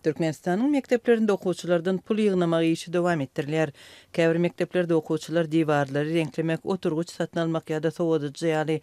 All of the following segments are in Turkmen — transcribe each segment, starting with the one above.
Türkmenistanyň mekdeplerinde okuwçylardan pul ýygnamak işi dowam etdirilýär. Käbir mekdeplerde okuwçylar diwarlary reňklemek, oturgyç satyn almak ýa-da sowadyjy ýaly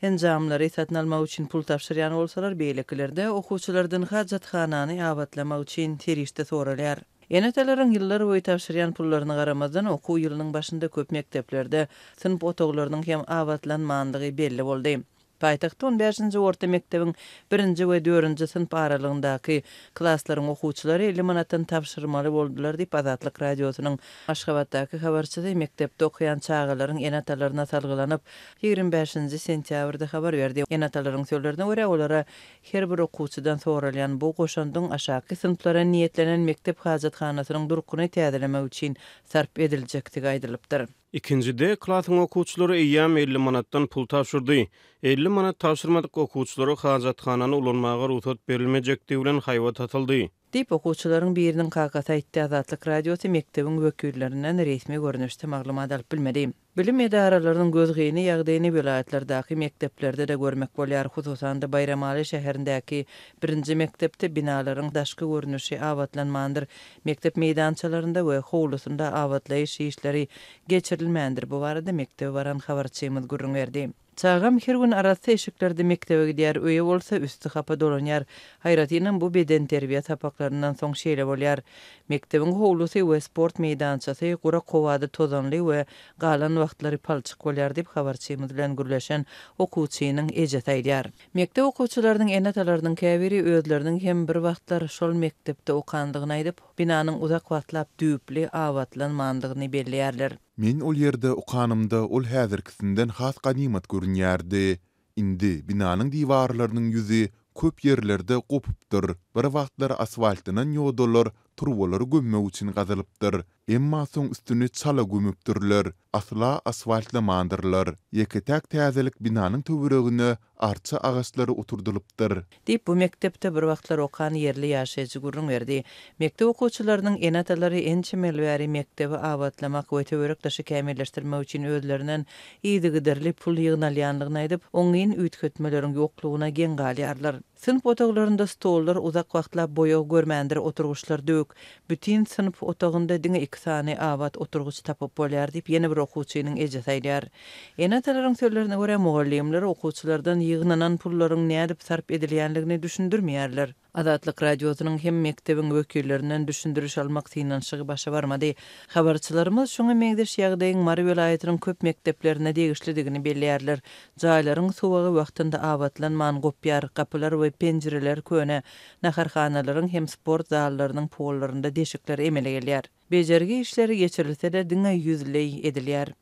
enjamlary satyn almak üçin pul tabşyrýan bolsalar, beýlekilerde okuwçylardan hajathanany abatlamak üçin serişde soralýar. Ene-atalaryň ýyllar boýy tabşyrýan pullaryna garamazdan, okuw ýylynyň başynda köp mekdeplerde synp otaglarynyň hem abatlanmandygy belli boldy. Paýtagtda on bäşinji orta mekdebiň birinji we dördünji synp aralygyndaky klaslaryň okuwçylary elli manatdan tabşyrmaly boldular diýip, Azatlyk Radiosynyň Aşgabatdaky habarçysy mekdepde okaýan çagalaryň ene-atalaryna salgylanyp, ýigrimi bäşinji sentýabrda habar berdi. Ene-atalaryň sözlerine görä, olara her bir okuwçydan soralýan bu goşandyň aşaky synplara niýetlenen mekdep hajathanasynyň durkuny täzelemek üçin sarp ediljekdigi aýdylypdyr. Ikinji D klasyň okuwçylary eýýäm elli manatdan pul tabşyrdy. Elli manat tabşyrmadyk okuwçylara hajathanany ulanmaga rugsat berilmejekdigi bilen haýbat atyldy. Diýip, okuwçylaryň biriniň kakasy aýtdy. Azatlyk Radiosy mekdebiň wekillerinden resmi görnüşde maglumat alyp bilmedi. Bilim edaralarynyň gözgyny ýagdaýyny welaýatlardaky mekdeplerde-de görmek bolýar. Hususan-da, Baýramaly şäherindäki birinji mekdepde binalaryň daşky görnüşi abatlanmandyr. Mekdep meýdançalarynda we howlusynda abatlaýyş işleri geçirilmändir, bu barada mekdebe baran habarçymyz gürrüň berdi. Çagam her gün arassa eşiklerde mekdebe gidýär, öýe bolsa üsti hapa dolanýar. Aýratynam bu bedenterbiýe sapaklaryndan soň şeýle bolýar. Mekdebiň howlusy we sport meýdançasy gurak howada tozanly we galan wagtlary palçyk bolýar diýip, habarçymyz bilen gürleşen okuwçynyň ejesi aýdýar. Mekdep okuwçylarynyň ene-atalarynyň käbiri özleriniň hem bir wagtlar şol mekdepde okandygyny aýdyp, binanyň uzak wagtlap düýpli abatlanmandygyny belleýärler. Men ol ýerde okanymda ol häzirkisinden has ganymat görünýärdi. Indi binanyň diwarlarynyň ýüzi köp ýerlerde gopupdyr, bir wagtlar asfaltlanan ýodalar turbalary gömmek üçin gazylypdyr. Emma soň üstüni çala gömüpdirler, asla asfaltlamandyrlar. Ýeke-täk täzelik binanyň töweregine arça agaçlary oturdylypdyr. Diýip, bu mekdepde bir wagtlar okan ýerli ýaşaýjy gürrüň berdi. Mekdep okuwçylarynyň ene-atalary ençeme ýyl bäri mekdebi abatlamak we töwerek-daşy kämilleşdirmek üçin özlerinden yzygiderli pul ýygnalýandygyny aýdyp, oňyn üýtgetmeleriň ýoklugyna geň galýarlar. Synp otaglarynda stollar uzak wagtlap boýag görmändir, oturgyçlar döwük. Bütin synp otagynda diňe iki sany abat oturgyç tapyp bolýar diýip, ýene bir okuwçynyň ejesi aýdýar. Ene-atalaryň sözlerine görä, mugallymlar okuwçylardan ýygnanan pullaryň nädip sarp edilýänligini düşündirmeýärler. Azatlyk Radiosynyň hem mekdebiň wekillerinden düşündiriş almak synanyşygy başa barmady. Habarçylarymyz şuňa meňzeş ýagdaýyň Mary welaýatynyň köp mekdeplerine degişlidigini belleýärler. Jaýlaryň suwagy wagtynda abatlanman gopýar, gapylar we penjireler köne, naharhanalaryň hem sport zallarynyň pollarynda deşikler emele gelýär. Bejergi işleri geçirilse-de diňe ýüzleý edilýär.